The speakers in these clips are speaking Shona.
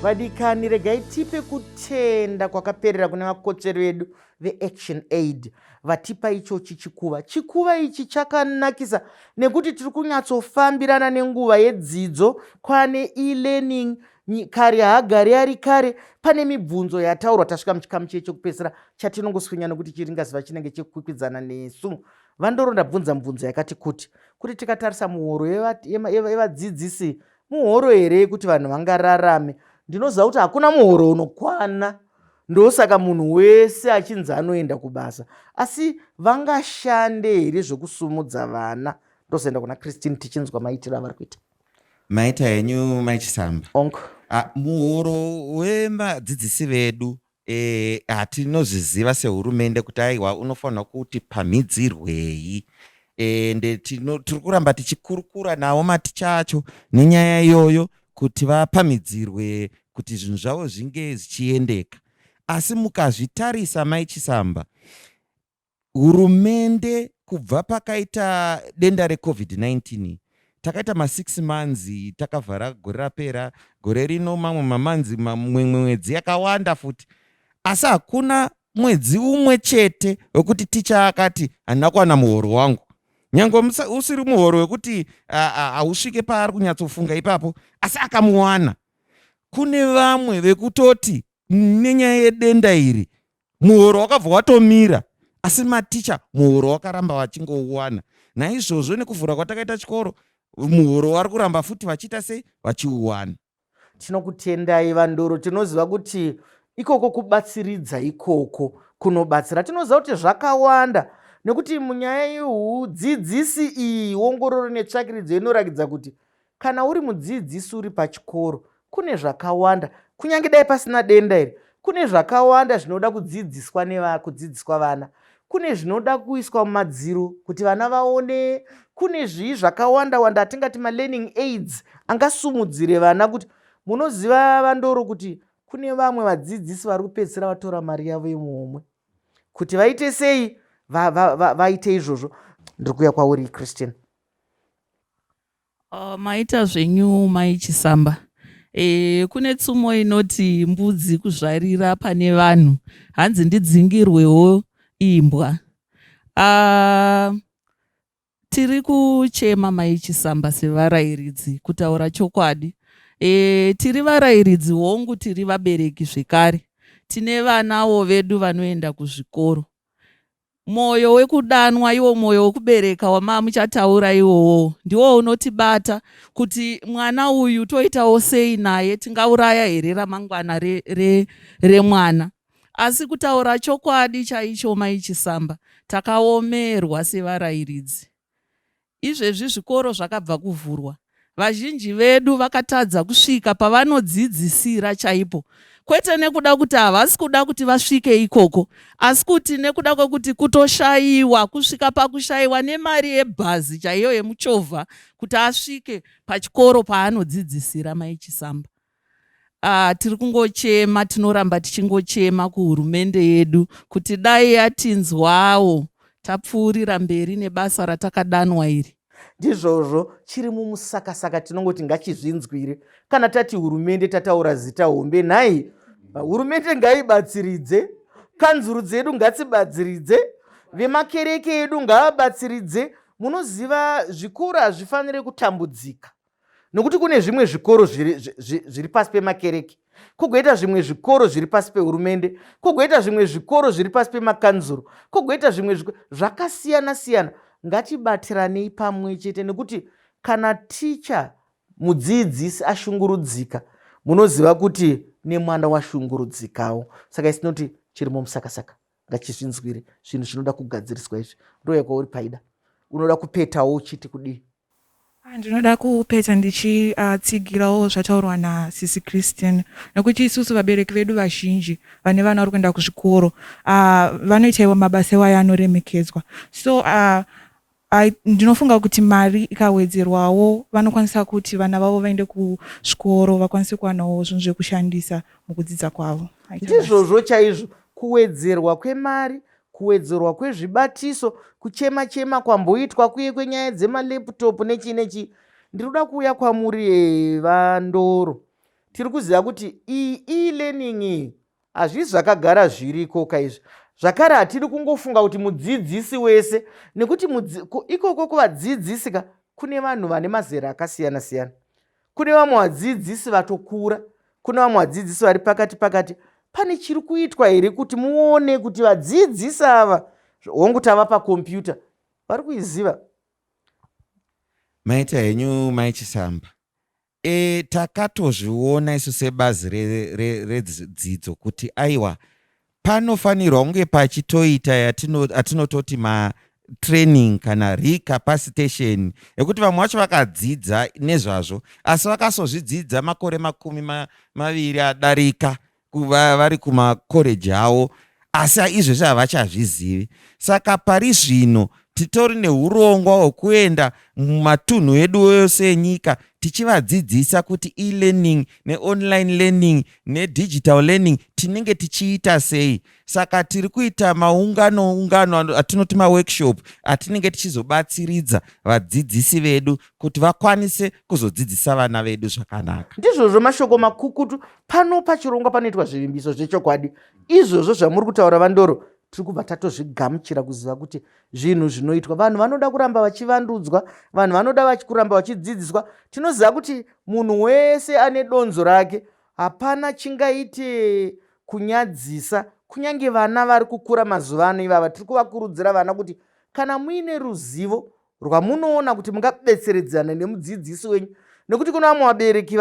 vadikani regai tipe kutenda kwakaperera kune vakotsveri vedu veaction aid vatipa ichochi chikuva chikuva ichi chakanakisa nekuti tiri kunyatsofambirana nenguva yedzidzo kwane elearning kare haagari ari kare pane mibvunzo yataurwa tasvika muchikamu chiye chekupedzisira chatinongoswinya nokuti chiringaziva chinenge chekukwikwidzana nesu vandoro ndabvunza mibvunzo yakati kuti kuti tikatarisa muhoro yevadzidzisi muhoro here yekuti vanhu vangararame ndinoziva kuti hakuna muhoro unokwana ndosaka munhu wese achinzi anoenda kubasa asi vangashande here zvekusumudza vana ndozoenda kuna christine tichinzwa maitiro avari kuita Maita henyu mai Chisamba. Onk. Ah, muhoro wemadzidzisi vedu eh, hatinozviziva sehurumende kuti aiwa unofanirwa kuti pamhidzirwei ende tino- tiri kuramba tichikurukura navo maticha acho nenyaya iyoyo kuti vapamhidzirwe kuti zvinhu zvavo zvinge zvichiendeka asi mukazvitarisa mai chisamba Hurumende kubva pakaita denda reCovid-19 takaita masix manzi takavhara gore rapera gore rino mamwe mamanzi mamwe mwedzi yakawanda futi asi hakuna mwedzi umwe chete wekuti ticha akati handina kuwana muhoro wangu nyange usiri muhoro wekuti hausvike paari kunyatsofunga ipapo asi akamuwana kune vamwe vekutoti nenyaya yedenda iri muhoro wakabva watomira asi maticha muhoro wakaramba vachingouwana naizvozvo nekuvhura kwatakaita chikoro muhoro wari kuramba futi vachiita sei vachiuwana tinokutendai vandoro tinoziva kuti ikoko kubatsiridza ikoko kunobatsira tinoziva kuti zvakawanda nekuti munyaya yeudzidzisi iyi wongororo netsvakiridzo inorakidza kuti Kana uri mudzidzisi uri pachikoro, kune zvakawanda, kunyange dai pasina denda iri, kune zvakawanda zvinoda kudzidziswa nevakudzidziswa vana kune zvinoda kuiswa mumadziro kuti vana vaone kune zvii zvakawanda wanda atingati malearning aids angasumudzire vana kuti munoziva vandoro kuti kune vamwe vadzidzisi vari kupedzisira vatora mari yavo yemuhomwe kuti vaite sei vaite va, va, va, izvozvo ndiri kuuya kwauri christian Ahh maita zvenyu mai Chisamba. Eeh kune tsumo inoti mbudzi kuzvarira pane vanhu hanzi ndidzingirwewo imbwa. Aah tiri kuchema mai Chisamba sevarairidzi kutaura chokwadi. Eeh tiri varairidzi hongu tiri vabereki zvekare tine vanawo vedu vanoenda kuzvikoro. Moyo wekudanwa iwo moyo wekubereka wamamuchataura iwowo ndiwo unotibata kuti mwana uyu toitawo sei naye tingauraya here ramangwana re, re, remwana asi kutaura chokwadi chaicho mai Chisamba takaomerwa sevarairidzi Izvezvi zvikoro zvakabva kuvhurwa, vazhinji vedu vakatadza kusvika pavanodzidzisira chaipo, kwete nekuda kuti havasi kuda kuti vasvike ikoko, asi kuti nekuda kwekuti kutoshaiwa, kusvika pakushaiwa nemari yebhazi chaiyo yemuchovha kuti asvike pachikoro paanodzidzisira, Mai Chisamba. Ah, tiri kungochema, tinoramba tichingochema kuhurumende yedu kuti dai yatinzwawo tapfuurira mberi nebasa ratakadanwa iri. Ndizvozvo, chiri mumusakasaka tinongoti ngachizvinzwire. Kana tati hurumende tataura zita hombe, nhai hurumende ngaibatsiridze, kanzuru dzedu ngatsibatsiridze, vemakereke edu ngavabatsiridze. Munoziva zvikoro hazvifanire kutambudzika. nokuti kune zvimwe zvikoro zviri, zviri, zviri pasi pemakereke kugoita zvimwe zvikoro zviri pasi pehurumende kugoita zvimwe zvikoro zviri pasi pemakanzuro kugoita zvimwe zvakasiyana siyana ngatibatiranei pamwe chete nekuti kana ticha mudzidzisi ashungurudzika munoziva kuti nemwana washungurudzikawo saka isinoti chirimo musakasaka ngachizvinzwire zvinhu zvinoda kugadziriswa izvi ndoyakwa uri paida unoda kupetawo uchiti kudii ah, ndinoda kupeta ndichitsigirawo ah, zvataurwa nasisi christian nekuti isusu vabereki vedu vazhinji vane vana vari kuenda kuzvikoro ah, vanoita iwo mabasa iwayo anoremekedzwa so I, ndinofunga kuti mari ikawedzerwawo vanokwanisa kuti vana vavo vaende kuzvikoro vakwanise kuwanawo zvinhu zvekushandisa mukudzidza kwavo ndizvozvo chaizvo kuwedzerwa kwemari kuwedzerwa kwezvibatiso kuchema chema kwamboitwa kuye kwenyaya dzemaleptop nechii nechii ndinoda kuuya kwamuri eh, vandoro tiri kuziva kuti iyi elearning iyi Hazvisi zvakagara zviriko ka izvi zvakare hatiri kungofunga kuti mudzidzisi wese nekuti ikoko kuvadzidzisi ka kune vanhu vane mazera akasiyana siyana kune vamwe vadzidzisi vatokura kune vamwe vadzidzisi vari pakati pakati pane chiri kuitwa here kuti muone kuti vadzidzisi ava hongu tava pakompyuta vari kuiziva maita henyu mai chisamba E, takatozviona isu sebazi redzidzo re, re, kuti aiwa panofanirwa kunge pachitoita atinototi matraining kana recapacitation ekuti vamwe vacho vakadzidza nezvazvo asi vakasozvidzidza makore makumi ma, maviri adarika kuva vari kumakoreji avo asi izvezvi havachazvizivi. Saka pari zvino titori neurongwa hwekuenda mumatunhu edu ose enyika tichivadzidzisa kuti elearning neonline learning nedigital learning tinenge tichiita sei saka tiri kuita maungano ungano atinoti maworkshop atinenge tichizobatsiridza vadzidzisi vedu kuti vakwanise kuzodzidzisa vana vedu zvakanaka ndizvozvo mashoko makukutu pano pachirongwa panoitwa zvivimbiso zvechokwadi izvozvo zvamuri kutaura vandoro tiri kubva tatozvigamuchira kuziva kuti zvinhu zvinoitwa vanhu vanoda kuramba vachivandudzwa vanhu vanoda vakuramba vachidzidziswa tinoziva kuti munhu wese ane donzo rake hapana chingaite kunyadzisa kunyange vana vari kukura mazuva ano ivava tiri kuvakurudzira vana kuti kana muine ruzivo rwamunoona kuti mungabetseredzana nemudzidzisi wenyu nekuti kune vamwe vabereki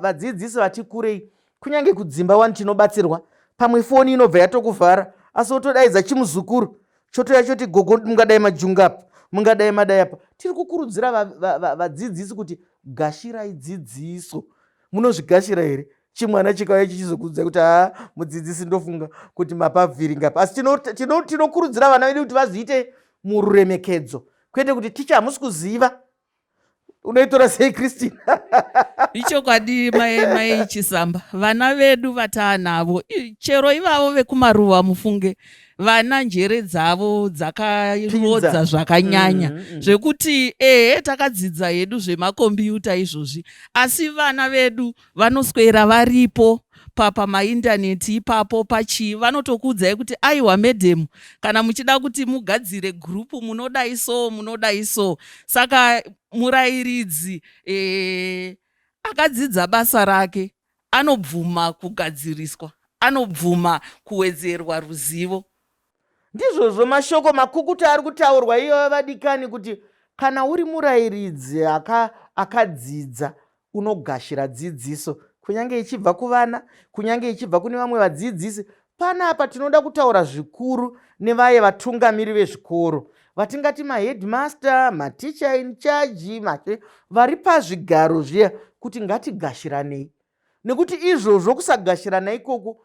vadzidzisi vati kurei kunyange kudzimba wani tinobatsirwa pamwe foni inobva yatokuvhara asi wotodaidza chimuzukuru chotoya choti gogo mungadai majunga apa mungadai madai apa tiri kukurudzira vadzidzisi kuti gashirai dzidziso munozvigashira here chimwana chikauya chichizokuudzai kuti haa mudzidzisi ndofunga kuti mapavhiringa apa asi tinokurudzira vana vedu kuti vazviite mururemekedzo kwete kuti ticha hamusi kuziva unoitora sei christine ichokwadi mai mai chisamba vana vedu vataanavo chero ivavo vekumaruva mufunge vana njere dzavo dzakarodza zvakanyanya mm -hmm. zvekuti ehe takadzidza hedu zvemakombiyuta izvozvi asi vana vedu vanoswera varipo papa maindaneti ipapo pachii vanotokuudzai kuti aiwa madam kana muchida kuti mugadzire group munodai so munodai so saka murairidzi ee eh, akadzidza basa rake anobvuma kugadziriswa anobvuma kuwedzerwa ruzivo Ndizvozvo mashoko makukuta ari kutaurwa iyoyo vadikani kuti kana uri murayiridzi akadzidza aka unogashira dzidziso kunyange ichibva kuvana kunyange ichibva kune vamwe vadzidzisi panapa tinoda kutaura zvikuru nevaye vatungamiri vezvikoro vatingati maheadmaster mateacher in charge mate vari pazvigaro zviya kuti ngatigashiranei nekuti izvozvo kusagashirana ikoko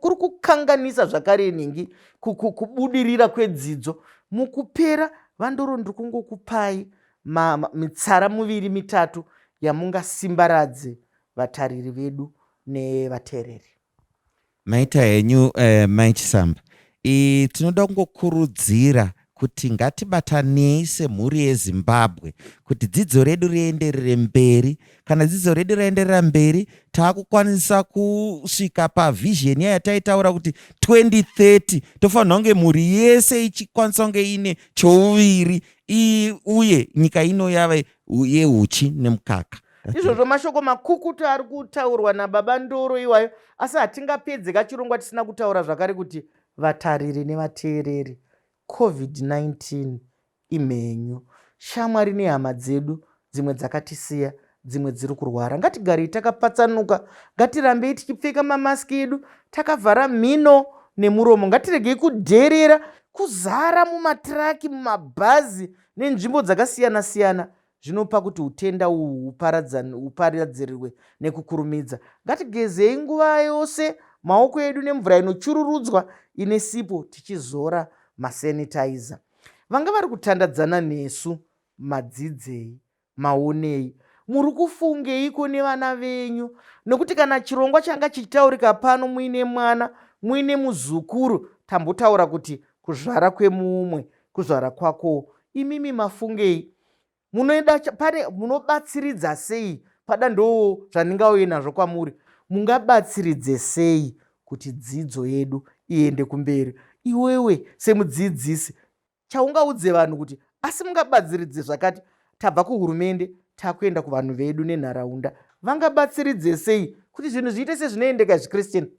kuri kukanganisa zvakare nhingi kubudirira kwedzidzo mukupera vandoro ndiri kungokupai mitsara muviri mitatu yamungasimbaradze vatariri vedu nevateereri Maita henyu eh, Mai Chisamba. I, tinoda kungokurudzira kuti ngatibatanei semhuri yezimbabwe kuti dzidzo redu rienderere mberi kana dzidzo redu raenderera mberi taakukwanisa kusvika pavhizheni iya yataitaura kuti 2030 tofanira kunge mhuri yese ichikwanisa kunge ine chouviri uye nyika ino yave yeuchi nemukaka izvozvo mashoko makukutu ari kutaurwa nababa ndoro iwayo asi hatingapedze kachirongwa tisina kutaura zvakare kuti vatariri nevateereri covid-19 imhenyu shamwari nehama dzedu dzimwe dzakatisiya dzimwe dziri kurwara ngatigarei takapatsanuka ngatirambei tichipfeka mamaski edu takavhara mhino nemuromo ngatiregei kudherera kuzara mumatiraki mumabhazi nenzvimbo dzakasiyana-siyana zvinopa kuti utenda uhwu hupariadzirirwe nekukurumidza. Ngatigezei nguva yose maoko edu nemvura inochururudzwa ine sipo tichizora masanitizer. Vanga vari kutandadzana nesu madzidzei, maonei, muri kufungeiko nevana venyu? Nokuti kana chirongwa changa chichitaurika pano muine mwana, muine muzukuru, tambotaura kuti kuzvara kwemumwe kuzvara kwako imimi mafungei munoenda pane munobatsiridza sei pada ndoo zvandingauye nazvo kwamuri mungabatsiridze sei kuti dzidzo yedu iende kumberi iwewe semudzidzisi chaungaudze vanhu kuti asi mungabatsiridze zvakati tabva kuhurumende takuenda kuvanhu vedu nenharaunda vangabatsiridze sei kuti zvinhu zviite sezvinoendeka zvichristien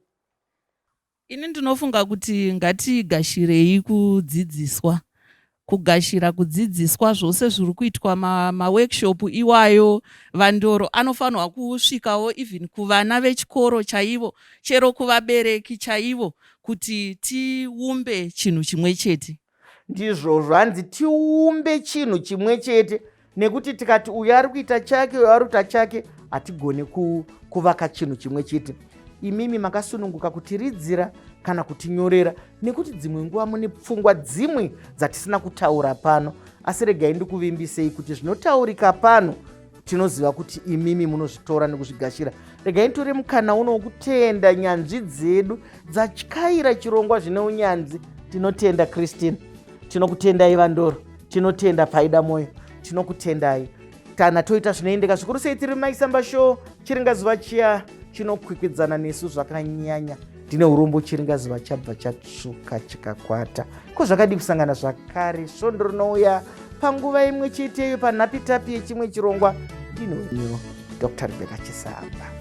Ini ndinofunga kuti ngatigashirei kudzidziswa kugashira kudzidziswa zvose zviri kuitwa maworkshop ma iwayo vandoro anofanirwa kusvikawo even kuvana vechikoro chaivo chero kuvabereki chaivo kuti tiumbe chinhu chimwe chete ndizvozvo hanzi tiumbe chinhu chimwe chete nekuti tikati uyo ari kuita chake uyo ari kuita chake hatigone kuvaka chinhu chimwe chete imimi makasununguka kutiridzira kana kutinyorera nekuti dzimwe nguva mune pfungwa dzimwe dzatisina kutaura pano asi regai ndikuvimbisei kuti zvinotaurika pano tinoziva kuti imimi munozvitora nekuzvigashira regai tore mukana uno wokutenda nyanzvi dzedu dzatyaira chirongwa zvine unyanzi tinotenda christine tinokutendai vandoro tinotenda paida mwoyo tinokutendai kana toita zvinoendeka zvikuru sei tiri maisamba show chiringa zuva chiya chinokwikwidzana nesu zvakanyanya ndine urombo chiringazi vachabva chatsvuka chikakwata ko zvakadi kusangana zvakare svondo rinouya panguva imwe cheteyo panhapitapi yechimwe chirongwa ndinonyo dr rebeka chisamba